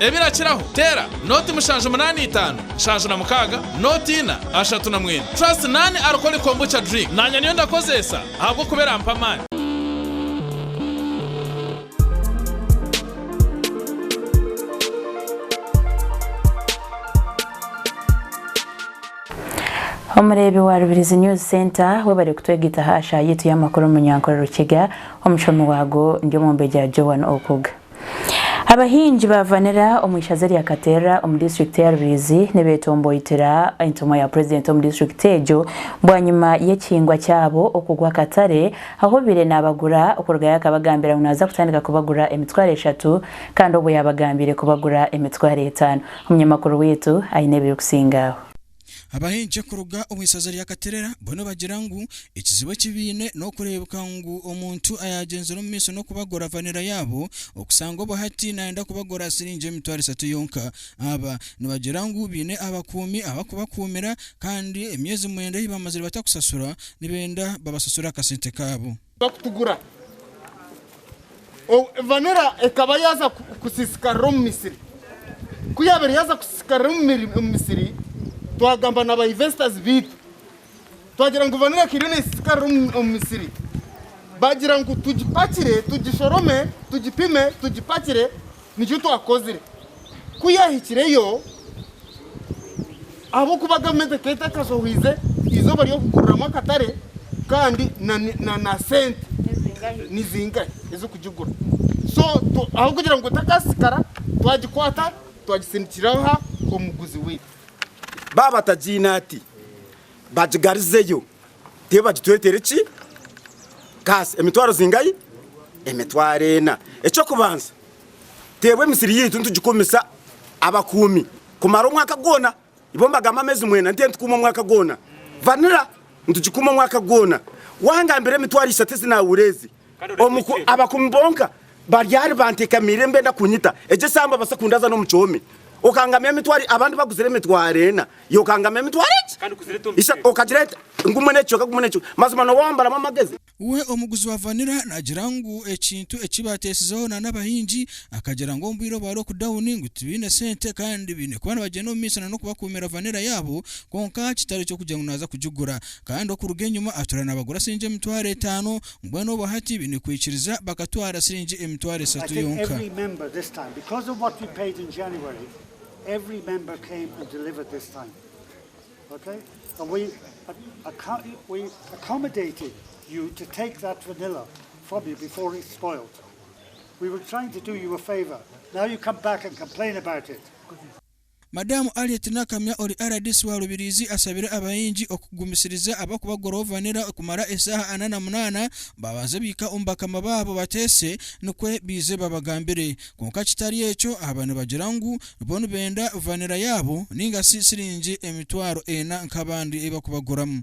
Ebirakiraho, teera nooti mushanju munaana itaano nshanju na mukaaga nooti ina ashatu na mwenda. Trust naani arikoli kombucha drink naanya niyo ndakozeesa ahabw'okuba erampa amaani. Omureebi wa Rubirizi News Centre, webare kutwegaita aha shaha yaitu y'amakuru omu Nyankore Rukiga, omushomi waago ndi Omwombegya Joan Okuga. Abahingi ba vanilla omu ishaza erya Katerra omu disiturikiti ya Ruriizi nibetomboitira entumwa ya purezidenti omu disiturikiti egyo bwanyima y'ekihingwa kyabo okugwa akatare ahu obaire nabagura okurugayo akabagambira ngu naza kutandika kubagura emitwaro eshatu kandi obwo yabagambiire kubagura emitwaro etaano. Omunyamakuru waitu aine ebirikusinga aho. Abahingi kuruga omu ishaza rya Katerera bo nibagira ngu ekizibu eki baine n'okureebeka ngu omuntu ayaagyenzire omu maisho n'okubagura vanilla yaabo okushanga obu hati naayenda kubagura aha siringi emitwaro eshatu yonka. Aba nibagira ngu baine abakuumi abakubakuumira kandi emyezi mwenda ei baamazire batakushashura nibenda babashashure akasente kaabo. Bakutugura. Obu Vanilla ekaba yaaza kusiisikarira omu misiri. Ku yaabaire yaaza kusiisikarira omu misiri, twagamba na ba investors baitu. Twagira ngu Vanilla eka eriyo neesiisikarira omu misiri. Baagira ngu tugipakire, tugishorome, tugipime, tugipakire, Nikyo twakozire. Ku yaahikireyo, ahabw'okuba gavumenti ekeeta ekashohoize eizooba ry'okuguriramu akatare kandi na na sente ni zingahi ez'okugigura. So tu- ahabw'okugira ngu etakaasisikara, twagikwata twagisindikira aha omuguzi waitu. Baaba batagiine ati, bagigarizeyo. Tibagitwetera ki? Kaasi emitwaro zingahi? Emitwaro ena. Eky'okubanza, teebwa emisiri yaitu nitugikumisa abakuumi kumara omwaka gwona. Ibo nibagamba ameezi mwena, nitwe nitukuuma omwaka gwona. Vanilla nitugikuuma omwaka gwona. Wangambira emitwaro ishatu ezi naahura ezi. Omu ku abakumi bonka baryari bantekamiire nibenda kunyita, egyo esaaha mbabaasa kundaza n'omu kihomi. Okangamya emitwaro, abandi baguzire emitwaro ena, iwe okangamya emitwaro egi? Ishe okagira ati, Gumwe n'ekicweka, gumwe n'ekicweka. Mazima nooba wambaramu amagezi? We omuguzi wa vanilla naagira ngu ekintu eki baateesizeho na n'abahingi akagira ngu omu bwire obwa lockdown ngu tibaine sente kandi baine kuba nibagyenda omu maisho na n'okubakuumira vanilla yaabo kwonka kitari ky'okugira ngu naaza kugigura. Kandi okuruga enyima atura nabagura siringi emitwaro etaano, mbwenu obwo hati baine kwikiriza bakatwara siringi emitwaro esatu yonka. Madaamu Harriet Nakamya ori rdc wa Rubirizi ashabire abahingi okugumisiriza ahabw'okuba gorovanira kumara eshaaha ana na munaana baabanze baika omu bakama baabo bateese nikwo baije babagambire kwonka kitari ekyo ahaba nibagira ngu bo nibenda vanira yaabo ninga shi shiringi emitwaro ena nk'abandi ei barikubaguramu.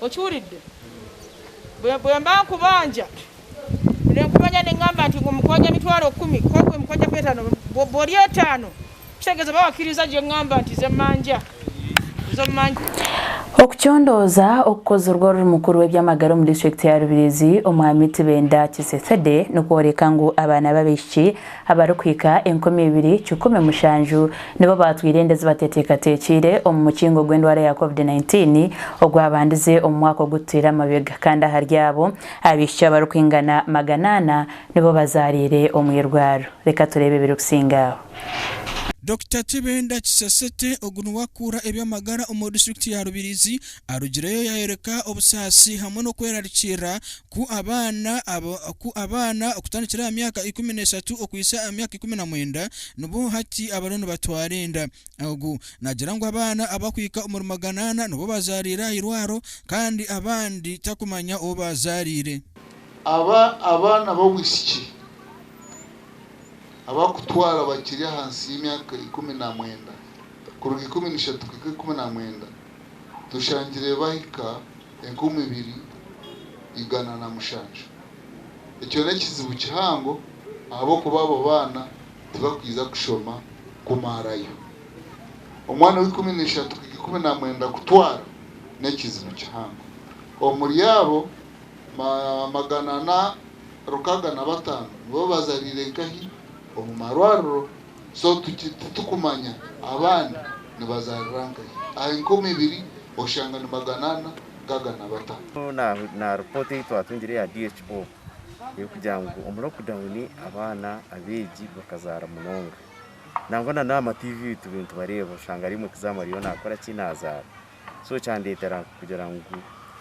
Okiwuridde? Bwe, bwe mba nkubanja, buli orikubanja ningamba nti, Omukwanja emitwaro kumi, kwonka obu mukwanja kwe etaano, bwo, bwori etaano, kitegeeza oba wakiriiza gye ngamba nti, Ze manja, zo manja. Okucondooza okukozirwe oruri mukuru w'eby'amagara omu disiturikiti ya Rubirizi, Omwami Tibenda Kisesede, nikworeka ngu abaana b'abaishiki, Abarikuhika enkumi ibiri kikumi mushanju nibo baatwire enda ezibateteekateekiire omu mukingo gw'endwara ya covid nineteen ogwabandize omu mwaka ogu tutaire amabega kandi ahari abo, abaishiki abarikwingana magana ana nibo bazaariire omu irwaro. Reka tureebe ebirikusinga aho. Dokita Tibenda Kisesete ogu niwe akuura eby'amagara omu disiturikiti ya Rubirizi arugireyo yaayoreka obusaasi hamwe n'okwerarikirira Ku abaana okutandikira aha myaka ikumi n'eshatu okuhitsya aha myaka ikumi na mwenda nibo hati abariyo nibatwara enda. Ogwo naagira ngu abaana abarikuhika omuri magana ana nibo baazaariire aha irwaro kandi abandi tarikumanya ou baazaariire. Aba abaana b'obwishiki abarikutwara bakiri ahansi y'emyaka ikumi na mwenda, kuruga ikumi na ishatu kuhika ikumi na mwenda, tushangire bahika enkumi ibiri igana na mushanju. Ekyo n'ekizibu kihango ahabw'okuba abo baana tibakwija kushoma kumaarayo. Omwana ow'eikumi na ishatu kuhika eikumi na mwenda kutwara n'ekizibu kihango. Omuri abo, magana ana rukaga na bataano nibo bazariire nkahi omu marwariro. So titukumanya abandi nibazarira nkahi. Aha enkumi ibiri oshanga ni magana ana gaga na bata. Na report eyi twatungire eya DHO erikugira ngu omu lockdown abaana abegi bakazara munonga. Nangwa na n'aha ma TV eyi tubire nitubareba oshanga ari omwe kizaamu ariyo nakora ki? Nazara. So kyandetera kugira ngu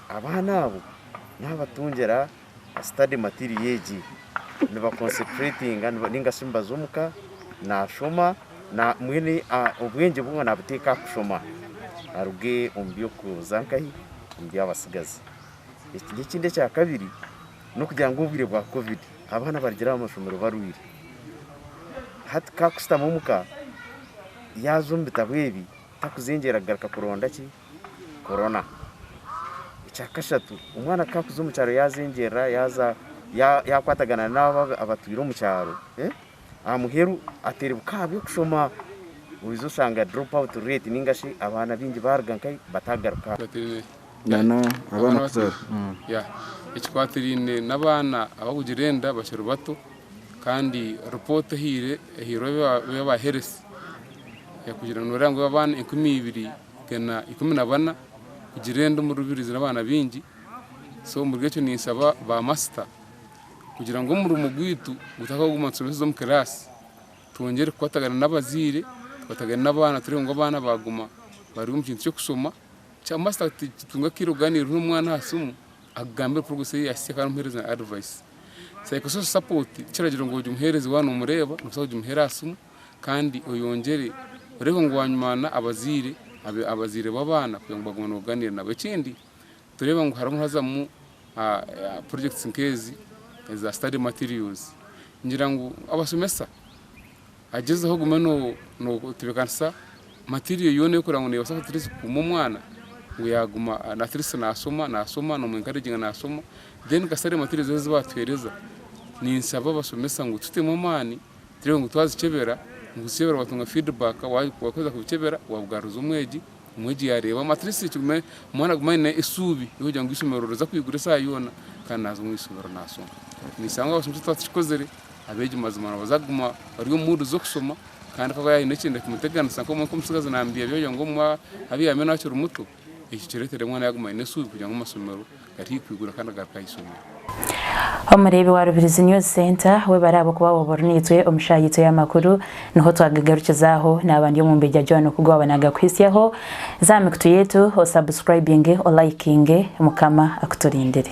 abaana abo nabatungira. study material egi niba concentratinga ninga shi nibaza omu ka nashoma mbwenu obwengye bwe nabuteeka aha kushoma aruge omu by'okuza nkahi omu by'abatsigazi. Ekindi ekya kabiri n'okugira ngu obwire bwa covid abaana barugire aha mashomero barwaire hati ka kushutama omu ka yaaza omu bitabo ebi takuzengyera kugaruka kuronda ki? korona. Ekyakashatu, omwana ku arikuza omu kyaro yaazengyerera yaakwatagana n'abo abatwire omu kyaro, aha muheru ateribuka aha by'okushoma, oija oshanga drop out rate nainga shi abaana baingi baaruga nka bataagaruka aha ishomero. Ekikwatiraine n'abaana abarikugira enda bakiri bato kandi ripooti ehairwe aba health, ekugire neereba ngu abaana enkumi ibiri Bena ikumi na bana kugira enda omu rubirizi n'abaana baingi so omuri ekyo ninsaba ba masita kugira ngu omurimo gwaitu gutakaguma nitushomeseza omu kiraasi twongyere kukwatagana n'abazaire tukwatagane n'abaana turebe ngu abaana baguma bari omu kintu ky'okushoma kya masita tutunge akaire kuganira na omwana aha siimu akugambire progress ei yahitsye kandi omuhereze na advise, psychosocial support tikiragira ngu ogye omuhereze waaba nomureeba nobaasa kugimuheera aha siimu. kandi oyongyere oreebe ngu wanywaana abazaire abazaire b'abaana kugira ngu bagume nibaganiira nabo. Ekindi nitureeba ngu harimu hazamu projects nk'ezi eza study materials ngira ngu abashomesa agyezeho ogume notebeekanisa material yoona ei orikureeba ngu neebaasa at least kukuuma omwana ngu yaaguma at least naashoma naashoma noomu encouraginga naashoma then ka study materials ezi baatuheereza ninshaba abashomesa ngu tutemu amaani. Turebe ngu twazikyebera, ngu zikyebera watunga feedback, waaheza kubikyebera wabigaruriza omwegi, omwegi yaareebamu at least kigume omwana agume aine esuubi ery'okugira ngu eishomero riza kwigura esaaha yoona kandi naaza omu ishomero naashoma. Ninshanga abashomesa twakikozire, abeegi mazima nibaza kuguma bari omu mood z'okushoma kandi ku araabe aine ekindi kimuteganisa nk'omutsigazi naambyaambya kugira ngu obumwe abyame naakiri muto, Eki kireetere omwana yaaguma aine esuubi kugira ngu amashomero gataihi kwigura kandi agaruke aha ishomero. Omureebi wa Rubirizi News Centre, webare ahabw'okuba waba ori naitwe omu shaaha yaitu ey'amakuru. Niho twagagarukizaho. Naaba ndi Omumbejja Joan Okugu waaba naagakuhitsyaho. Za aha mikutu yaitu o subscribinge, o likinge. Mukama akuturindire.